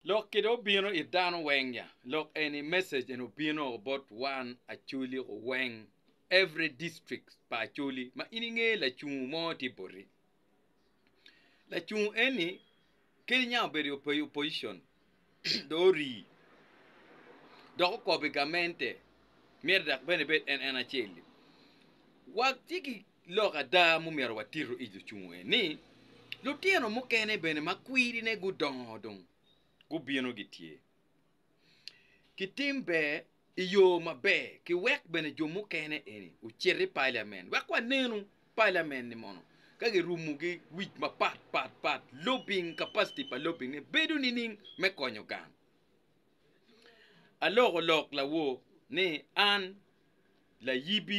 Lok kede obino it dano weng nya lok eni message eni obino bot wan Acholi weng every district pa Acholi ma in inge lacungu mo tye boti lacungu eni kadi niang obedo i opposition dong orii dok okobo i gamente myero dok bene ebed en en acel-li wa ci Lok ada mumyero watitu i lucungu en ni, lutino mukene bene ma kwirine gudongo dong gubino gitye ki tim ber i yo maber ki wek bene jo mukene eni ocit i paliamen wek wanenu paliamen ni mono ka girumu gi wic mapat pat pat lobing capacity pa lobing ne bedo nining me konyo gang. Aloko lok lawor ni an layibi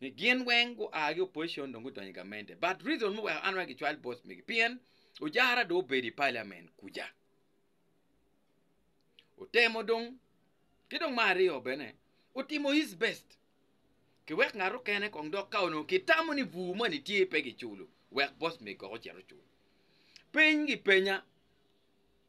ni gin weng gua ki opposition dong gudonyo i gamente but reason ma oweko an wek gicwal boss megi pien ojara dong obedo i parliament kuca otemo dong ki dong me aryo bene otimo his best ki wek ngat okene kong dok ka onongo ki tamo ni bur moni tye pe giculo wek boss megi kong ocit ocul peny gi penya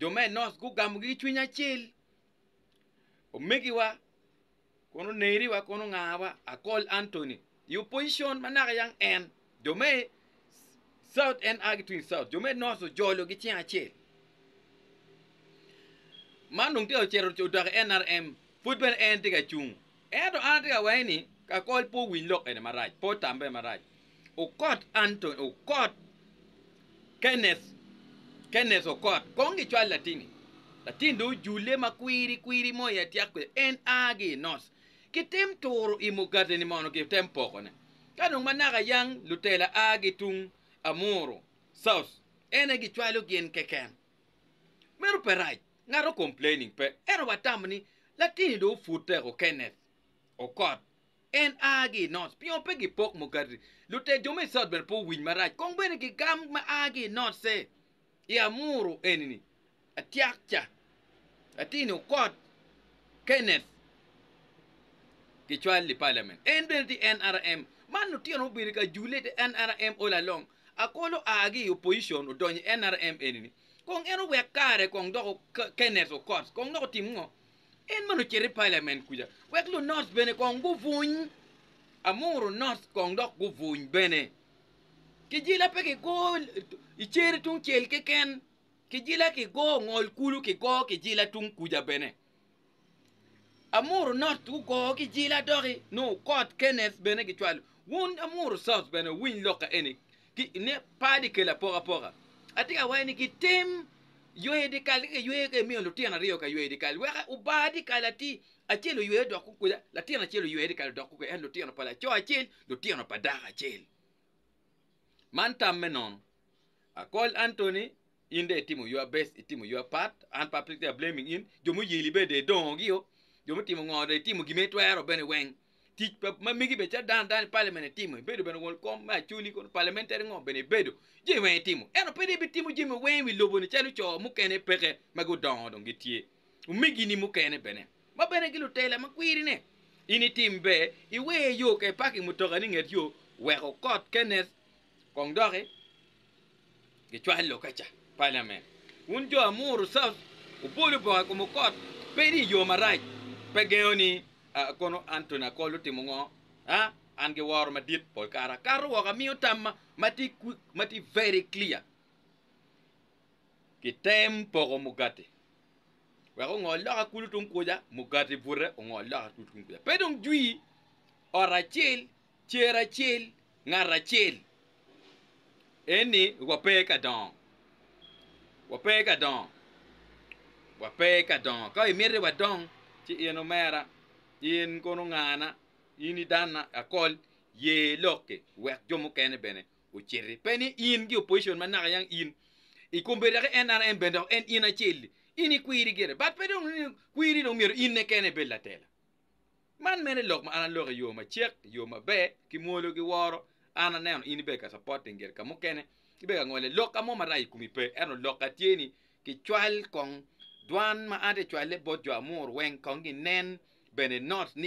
jo me Enoc gugamogi ki cwiny acel. Omegiwa kun oneriwa kun ongawa Akol Anthony i opposition ma naka yang en jo me South en a ki tung i South jo me North ojolo gi cing acel. Man dong tye ka ocito odoko NRM pud bene en tye ka cung Ento an atye ka wenge ni kakol pe owiny lok eni marac, pe otam pe marac. Okot Anthony, Okot Kenneth, Kenneth Okot, kong gicwal latingi. Latin dong ojule ma kwiri kwiri mo i atyek kwede. En a gi i North. Kitim turo i Mugateni mono kitem pokone. Ka dong manaka yang lutela a gi tung Amuru, South, en aye gicwalo gin keken. Meno pe rac, ngat o complaining pe, ento watamo ni latini dong opute o Kenneth okot, en a gi i North, pingo pe gi pok Mukati, lutet jo me i South bene pe owiny marac, kong bene gi gam ma a gi i North se i Amuru eni ni, atyak ca, latini okot Kenneth gi cwal i Parliament, en bene tye NRM, man lutino obedi ka jule ite NRM all along, Akolo aa gi i opposition odonyo i nrm eni ni kong en owek kare kong dok Kenneth Okot kong dok otim ngo? En mene ocito i parliament kuca wek lu North bene kong gubuny Amuru North kong dok gubuny bene. Kijila pe kigo i Ceri tungcel keken, kijila kigo Ngol kulu kigo kijila tung kuca bene. Amuru North gugo ki jil adoki nongo kot Kenneth bene gicwalo. Wun Amuru South bene wuwiny lok ka eni ki ine par di kelo apokapoka. Atye ka waci ni gitim yweyo dyekal ka giyweyo ka imiyo lutino aryo ka yweyo dyekal weka obar dyekal atir acel oywe odok kukuca latin acel oywe dyekal odok kukuca ento lutino pa laco acel lutino pa dako acel. Man tam me nono. Akol Anthony In dong itimo your best, itimo your part, an pe ape tye blaming in, jo muyeli bene dong idongo gi o, jo mutimo ngo dong itimo gin ma itwero bene weng, tic pa ma megi bene calo dan dan i parliament itimo, ibedo bene won kom me acholi kono, parliamentary ngo bene ibedo, jami weng itimo, ento pe dong ibitimo jami weng i wi lobo ni calo co mukene peke ma gudongo dong gitye, omegi ni mukene bene ma bene gi lutela ma kwiri ne, in itim ber iwe yo ka i parking mutoka ni nget yo wek okot Kenneth kong doki. Gicwalo ka ca palamen. Wun jo Amuru South wubolo bongo ikom okot pe ni yoo marac pe gengo ni a kono Anthony Akol otimo ngo a an gi woro madit pol kare akato woko amiyo tamma matye matye very clear kitem poko mugati wek ongol loka kulu tung kuca mugati bute ongol loka kulu tung kuca pe dong jwi ot acel Cer acel, ngat acel. Eni wape ka dongo. Wape ka dongo. Wape ka dongo. Ka imiti wadong, ci in omera, in kono ngana, in idanna, akol, ye lokki wek jo mukene bene ociti. Pe ni in ki opposition ma naka yang in i kombedo ki NRM bene dok en in acel-li. In ikwiri gire but pe dong kwiri dong myero in-ne kene ibed latela. Man mene lok ma an aloko i yo macek, i yo maber, ki mwolo ki woro. An aneno in ibedo ka supporting gire ka mukene, ibedo ka ngole lokka mo marac i kom i pe, ento lokka tye ni kicwal kong dwan ma an aye acwale bot jo amuru weng kong ginen bene not ni.